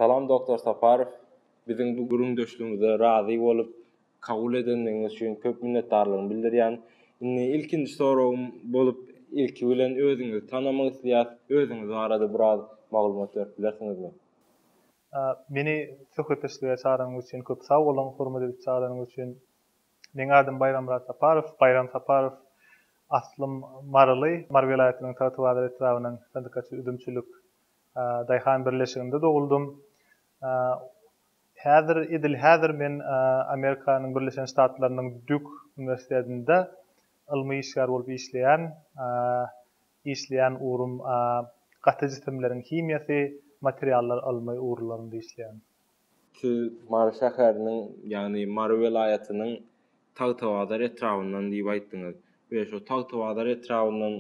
Salam Doktor Saparow. Biziň bu gürrüňdeşligimize razy bolup, kabul edendigiňiz üçin köp minnetdarlygymy bildirýän. Indi ilkinji soragym bolup, ilki bilen özüňizi tanamak isleýäs. Özüňiz barada biraz maglumat berip bilersiňizmi? Meni söhbetdeşlige çagranyňyz üçin köp sag boluň, hormat edip çagyranyňyz üçin. Meň adym Baýrammyrat Saparow, Baýram Saparow. Aslym maryly, Mary welaýatynyň Tagtabazar etrabynyň Sandykaçy üzümçilik Daýhan birleşiginde doguldym. Häzir, edil häzir men Amerikanyň Birleşen Ştatlarynyň Dýuk uniwersitetinde ylmy işgär bolup işleýän. Işleýän ugrum gaty jisimleriň himiýasy, materiallar ylmy ugurlarynda işleýän. Siz Mary şäheriniň, ýagny Mary welaýatynyň Tagtabazar etrabyndan diýip aýtdyňyz we şo Tagtabazar etrabyndan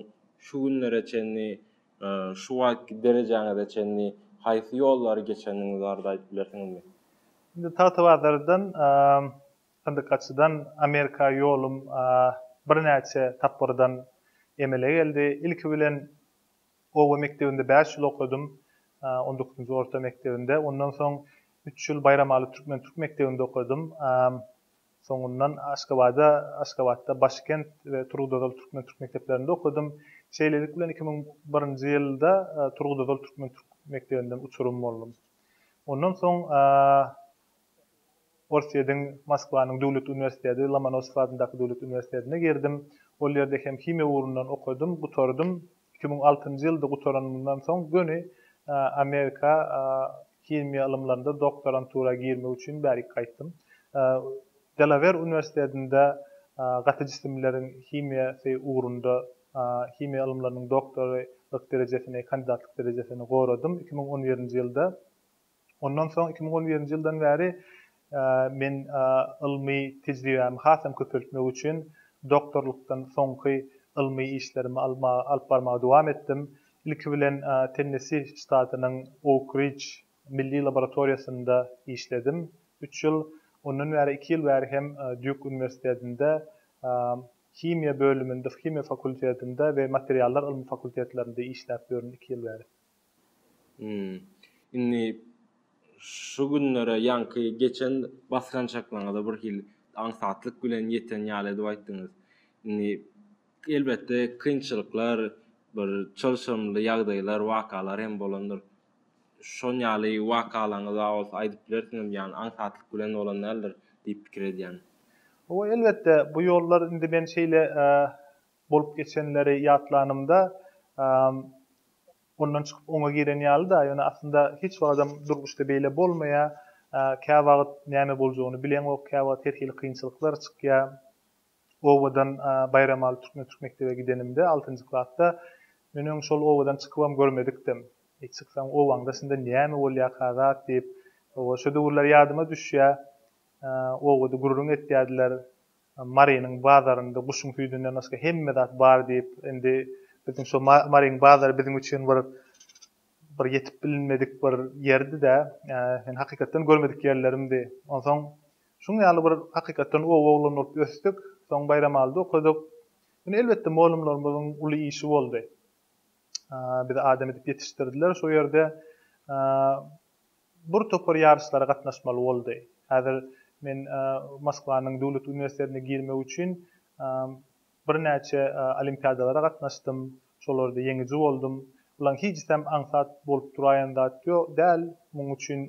şu günlere çenli, şu wagtky derejäňize çenli haýsy ýollary geçendigiňizi barada aýdyp bilersiňizmi? Indi Tagtabazardan, Syndykgaçydan Amerika ýolum birnäçe tapgyrdan emele geldi. Ilki bilen oba mekdebinde bäş ýyl okadym, on dokuzynjy orta mekdebinde. Ondan soň üç ýyl Baýramaly türkmen türk mekdebinde okadym. Soňundan Aşgabada, Aşgabatda Başkent we Turgutozal türkmen türk mekdeplerinde okadym. Şeýlelik bilen iki müň birinji ýylda Turgutozal türkmen türk mekdebinden uçurym boldum. Ondan soň Orsýediň Moskwanyň döwlet uniwersiteti, Lomonosow adyndaky döwlet uniwersitetine girdim. Ol ýerde hem himiýa ugrundan okadym, gutardym. Iki müň altynjy ýylda gutaranymdan soň göni Amerika himiýa ylymlarynda doktorantura girmek üçin bärik gaýtdym. Delawer uniwersitetinde gaty jisimleriň himiýasy ugrunda himiýa ylymlarynyň doktorylyk derejesini, kandidatlyk derejesini goradym. Iki müň on birinji ýylda Ondan soň iki müň on birinji ýyldan bäri men ylmy tejribämi has hem köpeltmek üçin doktorlykdan soňky ylmy işlerimi alyp barmagy dowam etdim. Ilki bilen Tennesi ştatynyň Ouk Ridge milli laboratoriýasynda işledim üç ýyl. Ondan bäri iki ýyl bäri hem Dýuk uniwersitetinde himiýa bölüminde, himiýa fakultetinde we materiallar ylmy fakultetlerinde işläp ýörün iki ýyl bäri. Hum. Indi şu günlere ýaňky geçen basgançaklaryňyza birhili aňsatlyk bilen ýeten ýaly edip aýtdyňyz. Indi elbetde kynçylyklar, bir çylşyrymly ýagdaýlar, wakalar hem bolandyr. Şon ýaly wakalaryňyza bolsa aýdyp bilersiňizmi? Ýagny aňsatlyk bilen bolan däldir diýip pikir edýän. Hawa elbetde bu ýollar indi men şeýle Bolup geçenleri ýatlanymda, ondan çykyp oňa giren ýaly-da, ýöne aslynda hiç wagtam durmuşda beýle bolmaýar. Käwagt näme boljagyny bileňok, käwagt her hili kynçylyklar çykýar. Obadan Baýramaly türkmen türk mekdebe gidenimde, altynjy klasda, men öň şol obadan çykybam görmedikdim. Eý, çyksaň, obaňda şunda näme bolýarka zat diýip, oba, şo döwürler ýadyma düşýär. Obada gürrüň etýärdiler. Marynyň bazarynda guşuň süýdünden başga hemme zat bar diýip, indi biziň şo Maryň bazary biziň üçin bir bir ýetip bilinmedik bir ýerdi-dä. Ýöne hakykatdan görmedik ýerlerimdi. Onsoň şuň ýaly bir hakykatdan oba oglany bolup ösdük. Soň Baýramalyda okadyk. Ýöne elbetde molumlarymyzyň uly işi boldy. Bizi adam edip ýetişdirdiler şo ýerde. Bir topar ýaryşlara gatnaşmaly boldy. Häzir men Moskwanyň döwlet uniwersitetine girmek üçin birnäçe olimpiadalara gatnaşdym, şolarda ýeňiji boldum. Bulaň hijisem aňsat bolup duraýan zat däl. Munuň üçin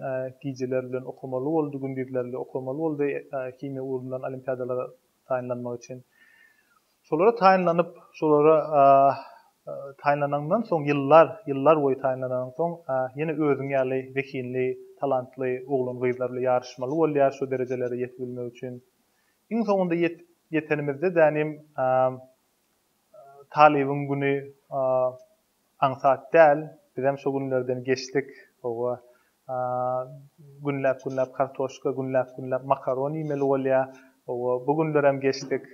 gijeler bilen okamaly boldy, gündizlerli okamaly boldy himiýa ugrundan olimpiadalara taýynlanmak üçin. Şolara taýynlanyp, şolara taýynlanyňdan soň ýyllar, ýyllar boýy taýynlananyň soň ýene özüň ýaly zehinli, talantly oglan-gyzlar bilen ýaryşmaly bolýar şu derejelere ýetibilmek üçin. Iň soňunda ýetip ýetenimizde dänim Talybyň güni Aňsat däl, bizem şu günlerden geçdik. Hawa, günläp-günläp kartoşka, günläp-günläp makaron iýmeli bolýar. Hawa, bu günlerem geçdik.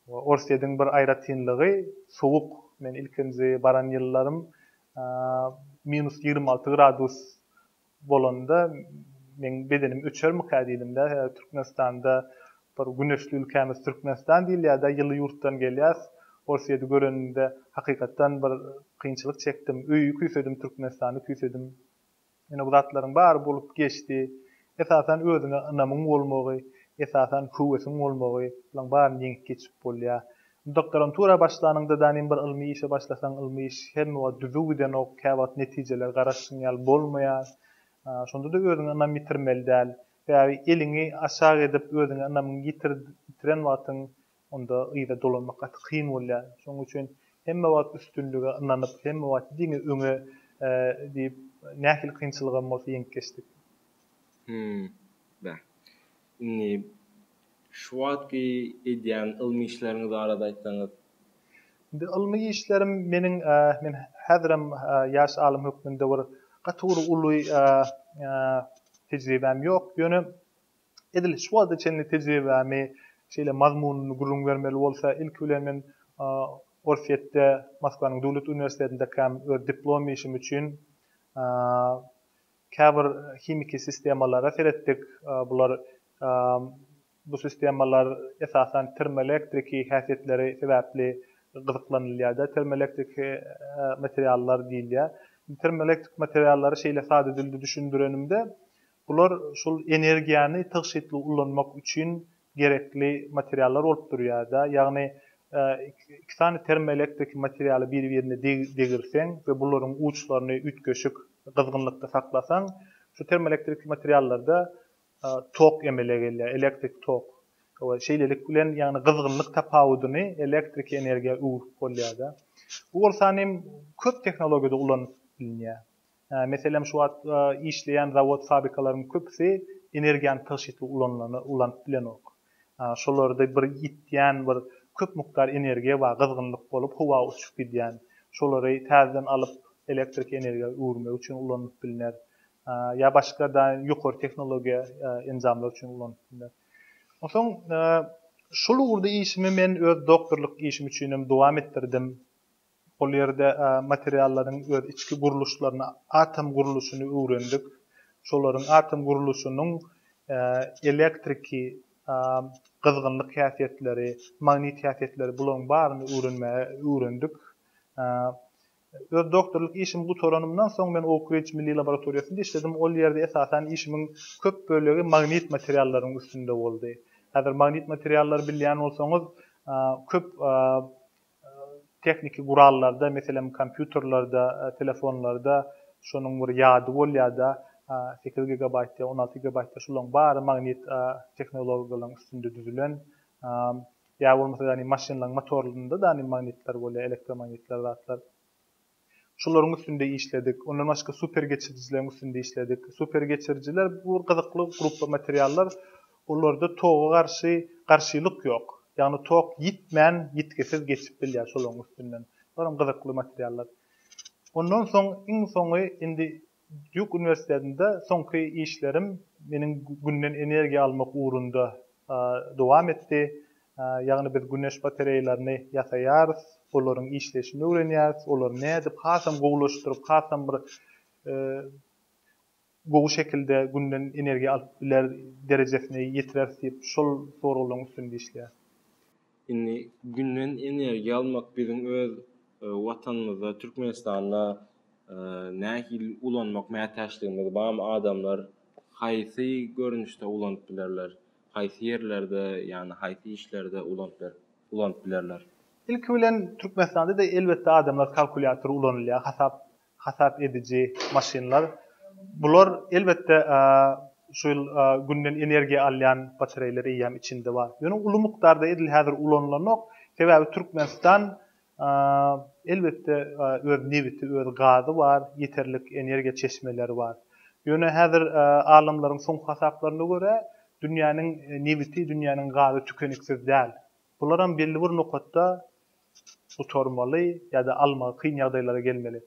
Orsýetiň bir aýratynlygy, sowuk. Men ilkinji baran ýyllarym minus ýigrimi alty gradus bolanda meň bedenim öçermikä diýdimdä sebäbi Türkmenistanda bir güneşli ülkämiz Türkmenistan diýilýärde ýyly ýurtdan gelýäs ol sedi görenimde hakykatdan bir kynçylyk çekdim öýi küýsedim Türkmenistany küýsedim ýöne bu zatlaryň bary bolup geçdi esasan özüňe ynamyň bolmagy esasan höwesiň bolmagy bulaň baryny ýeňip geçip bolýar Doktorantura başlanyňda danym bir ylmy işe başlasaň ylmy iş hemme wagt düzüw gidenok, käwagt netijeler garaşdyň ýaly bolmaýar. Şondada özüňe ynam ýitirmeli däl. Sebäbi eliňi aşak edip özüňe ynamyňy ýitiren wagtyň onda yza dolanmak gaty kyn bolýar. Şonuň üçin hemme wagt üstünlige ynanyp, hemme wagt diňe öňe diýip nähili kynçylygam bolsa ýeňip geçdik. Hmmm. Beh. Indi şu wagtky edýän ylmy işleriňiz barada aýtsaňyz? Indi ylmy işlerim meniň men häzirem ýaş alym hökmünde bir gaty bir uly tejribäm ýok, ýöne edil şu wagta çenli tejribämi şeýle mazmunyny gürrüň bermeli bolsa, ilki bilen men Orsýetde Moskwanyň döwlet uniwersitetinde diplom işim üçin Käbir himiki sistemalara seretdik. Bular bu sistemalar esasan termoelektriki häsiýetleri sebäpli gyzyklanylýar-da, termoelektriki materiallar diýilýär. Termoelektrik materiallary şeýle sada dilde düşündirenimde, bular şol energiýany tygşytly ulanmak üçin gerekli materiallar bolup durýarda, ýagny iki sany termoelektrik materialy bir-birine degirseň we bularyň uçlaryny üýtgeşik gyzgynlykda saklasaň, şu termoelektrik materiallarda tok emele gelýär, elektrik tok. We şeýlelik bilen ýagny gyzgynlyk tapawudyny elektrik energiýa öwrüp bolýarda. Bu bolsa köp tehnologiýada ulanyp bilinýär. Meselem, şu wagt işleýän zawod-fabrikalaryň köpüsi energiýany tygşytly ulanyp bilenok. Şolarda bir ýitýän bir köp mukdar energiýa bar, gyzgynlyk bolup, howa uçup gidýän. Şolary täzeden alyp, elektrik energiýa öwürmek üçin ulanylyp bilner. Ýa başga ýokary tehnologiýa enjamlar üçin ulanyp bilner. Onsoň şol ugurda işimi men öz doktorlyk işim üçinem dowam etdirdim. Ol ýerde materiallaryň öz içki gurluşlaryny, atom gurluşyny öwrendik. Şolaryň atom gurluşynyň elektriki, gyzgynlyk häsiýetleri, magnit häsiýetleri bularyň baryny öwrenmäge öwrendik. Öz doktorlyk işimi gutaranymdan soň men Oukridž milli laboratoriýasynda işledim. Ol ýerde esasan işimiň köp bölegi magnit materiallaryň üstünde boldy. Häzir magnit materiallary bilýän bolsaňyz köp Tehniki gurallarda, meselem, kompýuterlerde, telefonlarda şonuň bir ýady bolýar-da, sekiz gigabaýtda, on alty gigabaýtda şolaryň bary magnit tehnologiýalaryň üstünde düzülen. Ýa bolmasa, ýagny maşynlaryň motorlarynda-da magnitler bolýar, elektromagnitler zatlar. Şolaryň üstünde işledik. Ondan başga super geçirijileriň üstünde işledik. Super geçirijiler bu bir gyzykly gruppa materiallar. Olarda toga garşy garşylyk ýok. Ýagny tok ýitmän, ýitgisiz geçip bilýär şolaryň üstünden. Olam gyzykly materiallar. Ondan soň iň soňy indi Dýuk uniwersitetinde soňky işlerim meniň Günden energiýa almak ugrunda dowam etdi. Ýagny biz güneş batareýalaryny ýasaýarys, olaryň işleýşini öwrenýäris, olary nädip hasam gowulaşdyryp, hasam bir gowy şekilde Günden energiýa alyp biler derejesine ýetireris diýip, şol soraglaryň üstünde işleýäris. Indi Günden energiýa almak biziň öz Watanymyzda, Türkmenistanda nähili ulanmak mätäçligimiz barmy? Adamlar haýsy görnüşde ulanyp bilerler? Haýsy ýerlerde, ýagny haýsy işlerde ulanyp bilerler? Ilki bilen Türkmenistanda-da elbetde adamlar kalkulýator ulanylýar, hasap hasap ediji maşynlar. Bular, elbetde, şu ýyl Günden energiýa alýan batareýler eýýäm içinde bar. Ýöne uly mukdarda edil häzir ulanylanok. Sebäbi Türkmenistan, elbetde, öz nebiti, öz gazy bar, ýeterlik energiýa çeşmeleri bar. Ýöne häzir alymlaryň soňky hasaplaryna görä, dünýäniň nebiti, dünýäniň gazy tükeniksiz däl. Bularam belli bir nokatda gutarmaly ýa-da almagy kyn ýagdaýlara gelmeli.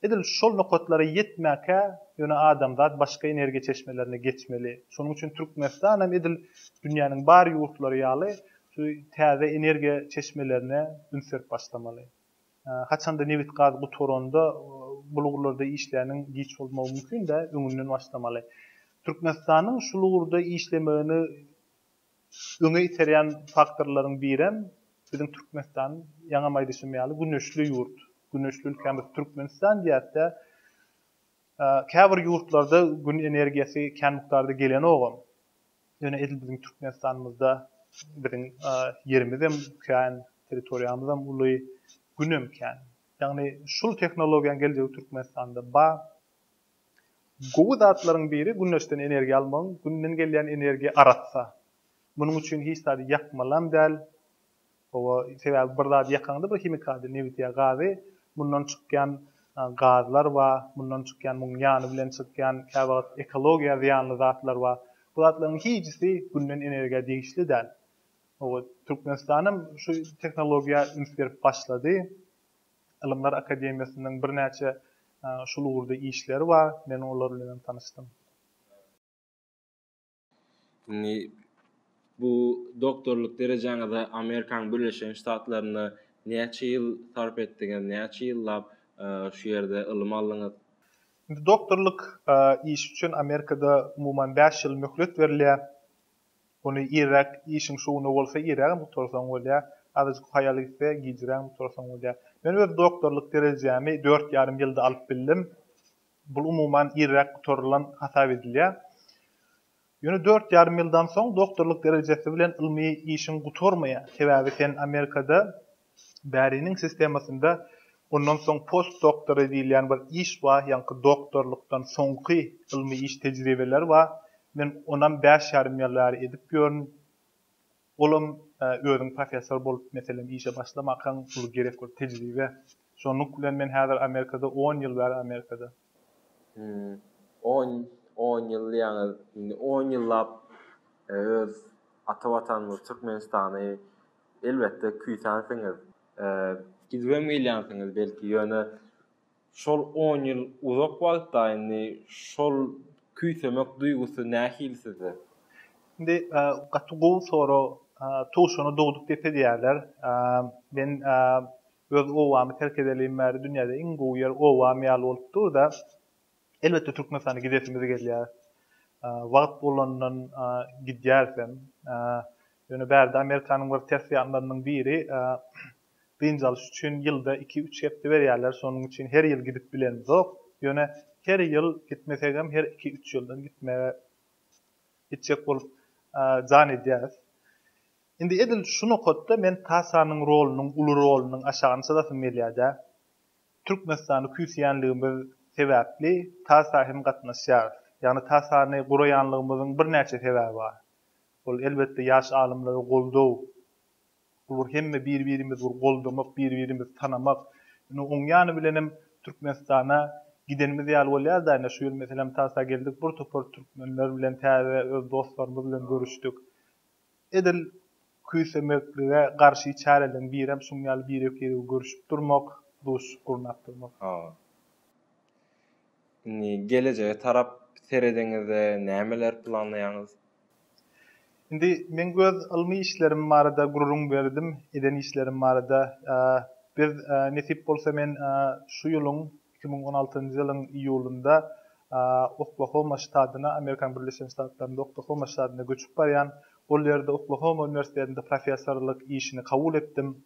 Edil şol nokatlara ýetmäkä ýöne adamzat başga energiýa çeşmelerine geçmeli. Şonuň üçin Türkmenistan hem edil dünýäniň bar ýurtlary ýaly şu täze energiýa çeşmelerine üns berip başlamaly. Haçanda nebit-gaz gutaranda bul ugurlarda işläniň giç bolmagy mümkin-dä, öňünden başlamaly. Türkmenistanyň şul ugurda işlemegini Öňe iterýän faktorlaryň birem biziň Türkmenistan, ýaňam aýdyşym ýaly, güneşli ýurt. Güneşli ülkämiz Türkmenistan diýäs-de, käbir ýurtlarda Gün energiýasy kän mukdarda gelenogam. Ýöne edil biziň Türkmenistanymyzda biziň ýerimizem kän, territoriýamyzam uly, Günem kän. Ýagny şul tehnologiýanyň geljegi Türkmenistanda bar. Gowy zatlaryň biri güneşden energiýa almagyň, günden gelýän energiýa arassa. Munuň üçin hiç zady ýakmalam däl. Hawa, sebäbi bir zady ýakaňda, bir himikady, nebit ýa gazy, mundan çykýan gazlar bar, mundan çykýan, munuň ýany bilen çykýan kä wagt ekologiýa zyýanly zatlar bar. Bu zatlaryň hijisi günden energiýa degişli däl. Hawa, Türkmenistan hem şu tehnologiýa üns berip başlady. Ylymlar akademiýasynyň birnäçe şul ugurda işleri bar. Men olar bilen hem tanyşdym. Indi bu doktorlyk derejäňize Amerikanyň Birleşen Ştatlarynda näçe ýyl sarp etdiňiz? Näçe ýyllap şu ýerde ylym aldyňyz? Indi doktorlyk işi üçin Amerikada umuman bäş ýyl möhlet berilýär. Ony irräk işiň şu güni bolsa irrägem gutarsaň bolýa, azajyk haýal gitse gijrägem gutarsaň bolýa. Men öz doktorlyk derejämi dört ýarym ýylda alyp bildim. Bul umuman irräk gutarylan hasap edilýä. Ýöne dört ýarym ýyldan soň doktorlyk derejesi bilen ylmy işiň gutarmaýa. Sebäbi sen Amerikada Bäriniň sistemasynda ondan soň postdoktory diýilýän bir iş bar, ýaňky doktorlykdan soňky ylmy iş tejribeleri bar. Men onam bäş ýarym ýyl bäri edip ýörün. Olam özüň professor bolup, meselem, işe başlamakaň uly gerek bir tejribe. Şonluk bilen men häzir Amerikada on ýyl bäri Amerikada. Hum, on, on ýyl diýýäňiz, indi on ýyllap öz ata Watanymyz Türkmenistany Elbetde küýsänsiňiz. Gidibem gelýänsiňiz belki, ýöne şol on ýyl uzak wagtda indi şol küýsemek duýgusy nähili sizde? Indi gaty gowy sorag. Tugşany dogduk depe diýerler. Men öz obamy terk edeliň bäri dünýäde iň gowy ýer obam ýaly bolup dur-da. Elbetde Türkmenistana gidesimiz gelýär. Wagt bolandan gidýäris hem. Ýöne bärde Amerikanyň bir ters ýanlarynyň biri dynç alyş üçin ýylda iki-üç hepde berýärler. Şonuň üçin her ýyl gidip bilemzok. Ýöne her ýyl gitmesegem her iki-üç ýyldan gitmegi gitjek bolup jan edýäris. Indi edil şu nokatda men Tasanyň rolunyň, uly rolunyň aşagyny çyzasym gelýär-dä. Türkmenistany küýseýänligimiz sebäpli TASA hem gatnaşýarys. Ýagny TASA-ny guraýanlygymyzyň birnäçe sebäbi bar. Ol elbetde ýaş alymlara goldaw. Ol bir hemme bir-birimizi bir goldamak, bir-birimizi tanamak. Indi oň ýany bilenem Türkmenistana gidenimiz ýaly bolýar-da, ine şu ýyl meselem TASA geldik, bir topar türkmenler bilen täze öz dostlarymyz bilen görüşdik. Edil küýsemeklige garşy çäreleriň birem şuň ýaly birek-biregi görüşip durmak, duşuşyk gurnap durmak. Hawa. Indi gelejege tarap seredeňizde nämeleri planlaýaňyz? Indi meň öz ylmy işlerim barada gürrüň berdim, eden işlerim barada. Biz, nesip bolsa men şu ýylyň Iki müň on altynjy ýylyň iýulynda Oklahoma ştadyna, Amerikanyň Birleşen Ştatlarynda Oklahoma ştadyna göçüp barýan. Ol ýerde Oklahoma uniwersitetinde professorlyk işini kabul etdim.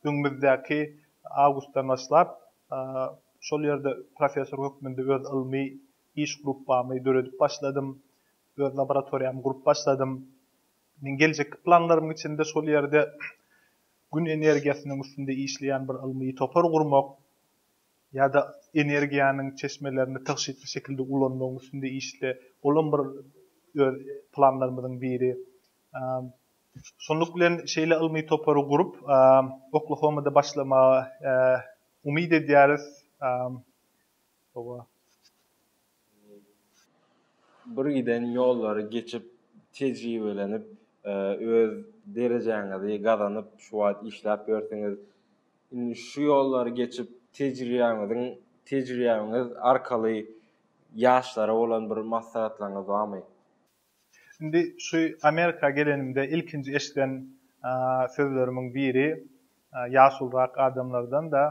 Öňümizdäki awgustdan başlap şol ýerde professor hökmünde öz ylmy iş gruppamy döredip başladym. Öz laboratoriýamy gurup başladym. Meň geljekki planlarymyň içinde şol ýerde Gün energiýasynyň üstünde işleýän bir ylmy topar gurmak ýa-da energiýanyň çeşmelerini tygşytly şekilde ulanmagyň üstünde işle, olam bir öz planlarymyzyň biri. Şunluk bilen, şeýle ylmy topary gurup, Oklahomada başlamagy umyt edýäris. Hawa. Bir giden ýollary geçip, tejribelenip, öz derejäňizi gazanyp, şu wagt işläp ýörsiňiz. Indi şu ýollary geçip, tejriýäňiziň, tejriýäňiz arkaly ýaşlara bolan bir maslahatlaryňyz barmy? Indi şu Amerika gelenimde ilkinji eşiden sözlerimiň biri ýaşulrak adamlardan-da,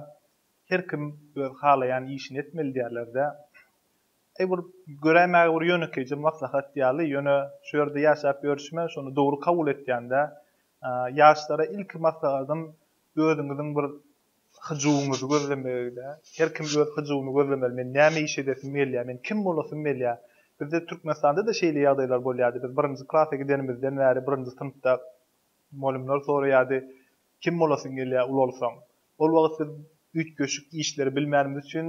Her kim öz halaýan işini etmeli diýerler-dä. Eý bir göräýmäge bir ýönekeýje maslahat ýaly, ýöne şu ýerde ýaşap ýörşüme şony dogry kabul etýän-dä. Ýaşlara ilki maslahatym özüňiziň bir hyjuwyňyzy gözlemegi-dä. Her kim öz hyjuwyny gözlemeli. Men näme iş edesim gelýär? Men kim bolasym gelýär? Bizde Türkmenistanda-da şeýle ýagdaýlar bolýardy. Biz birinji klasa gidenimizden bäri birinji synpda Mugallymlar soraýardy, Kim bolasyň gelýär ulalsaň? Ol wagt biz üýtgeşik işleri bilmänimiz üçin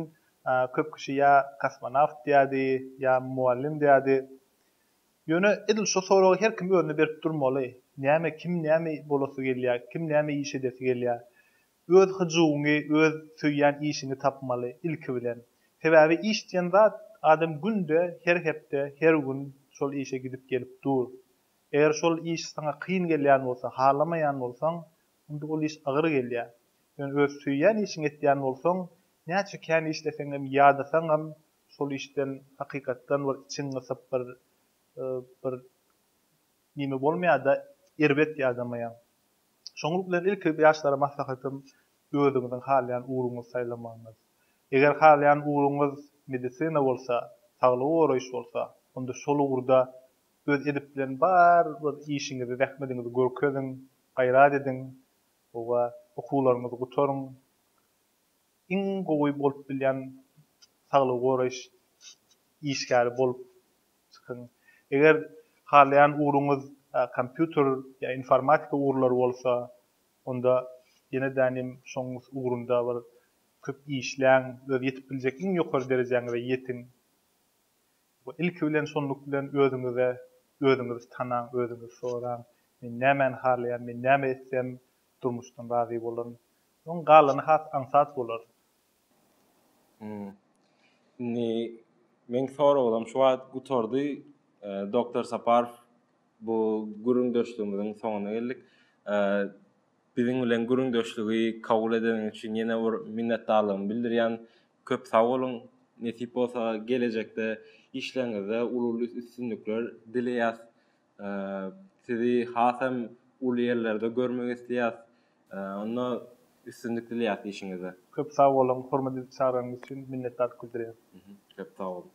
köp kişi ýa kosmonawt diýerdi, ýa mugallym diýerdi. Ýöne edil şu soragy her kim özüne berip durmaly, näme, kim näme bolasy gelýär, kim näme iş edesi gelýär? Öz hyjuwyňy, öz söýýän işiňi tapmaly, ilki bilen. Sebäbi iş diýen zat, adam günde, her hepde, her gün şol işe gidip-gelip dur. Eger şol iş saňa kyn gelýän bolsa, halamaýan bolsaň, onda ol iş agyr gelýär. Ýöne öz söýýän işiňi etýän bolsaň, näçe kän işleseňem, ýadasaňam, şol işden hakykatdan bir içiň gysyp, bir bir nime bolmaýar-da, erbet ýadamaýaň. Şoňlulyk bilen ilki ýaşlara maslahatym, özüňiziň halaýan ugruňyzy saýlamagyňyz. Eger halaýan ugruňyz medisina bolsa, saglygy goraýyş bolsa, onda şol ugurda öz edip bilen bar bir işiňizi zähmediňizi görkeziň gaýrat ediň owa okuwlaryňyzy gutaryň iň gowy bolup bilýän saglygy goraýyş işgäri bolup çykyň eger halaýan ugruňyz kompýuter ýa informatika ugurlary bolsa onda ýene dänim şoň ugrunda bir köp işläň öz ýetip biljek iň ýokary derejäňize ýetiň Bu ilki bilen şunluk bilen özüňize özüňizi tanaň, özüňizi soraň, men nämäni halaýan, men näme etsem durmuşdan razy bolaryn. Soň galany has aňsat bolar. Hum. Indi meň soraglarym şu wagt gutardy. Doktor Saparow bu gürrüňdeşligimiziň soňuna geldik. biziň bilen gürrüňdeşligi kabul edeniň üçin ýene bir minnetdarlygymy bildirýän. Köp sag boluň. Nesip bolsa gelejekde işleriňizde uly-uly üstünlikler dileýäs. Sizi has hem uly ýerlerde görmek isleýäs. Onda üstünlik dileýäs işiňizde. Köp sag boluň, hormat edip çagyraňyz üçin minnetdarlyk bildirýän. Köp sag boluň.